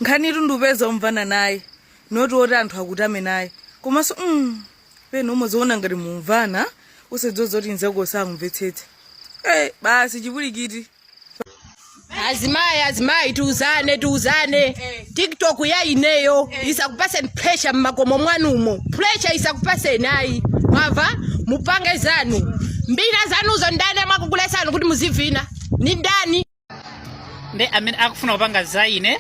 nkhanitu ndikupeza omvana naye noti oti anthu akutame naye komanso mm, pena umaziona ngati mumvana osadziwa kuti nzako sakumvetsetsa hey, basi chipwirikiti azimayi azimayi tiuzane tiuzane tiktok ya ineyo isakupaseni pressure mmakomo mwanumo pressure isakupaseni ayi mwamva mupange zanu mbina zanuzo ndani amakuletsani kuti muzivina ni ndani ndi amene akufuna kupanga za ine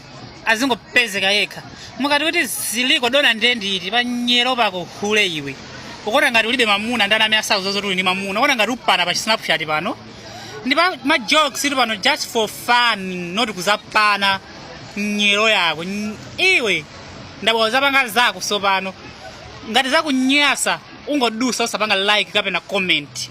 azingopezeka yekha mukati kuti ziliko dona ndiye nditi panyero pako hule iwe ukuona ngati ulibe mamuna ndani amene asakudziwa zoti uli ndi mamuna ukuona ngati pano mpa snapchat pano ndi pa ma jokes ili pano just for fun not kuzapana nyero yako Ny- iwe ndabwa uzapanga zako sopano ngati zakunyasa ungodusa usapanga like kapena comment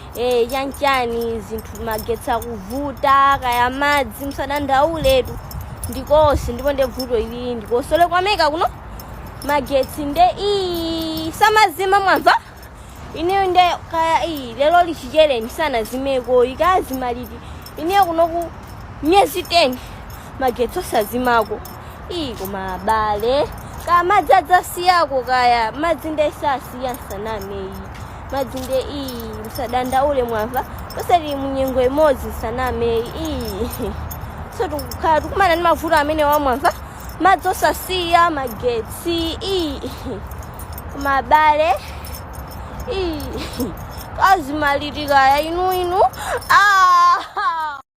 Eh, chanchani zinthu magetsi akuvuta kaya madzi musadandauletu ndikonse ndipo nde vuto ili ndikonse ku Ameleka kuno magetsi nde iyi samazima mwamva ineyo nde kaya iyi lero chibwelereni sanazimeko akazima liti ineyo kunoku myezi 10 magetsi osazimako iyi koma abale kaya madzi adzasiyako kaya madzi nde sasiya nsaname iyi madzi nde iyi musadandaule mwamva tonse tili mu nyengo imodzi sanameyi iyi so tikukhala tikumana ndi mavuto amenewa mwamva madzi osasiya magetsi iyi koma abale iyi akazima liti kaya inu inu ah!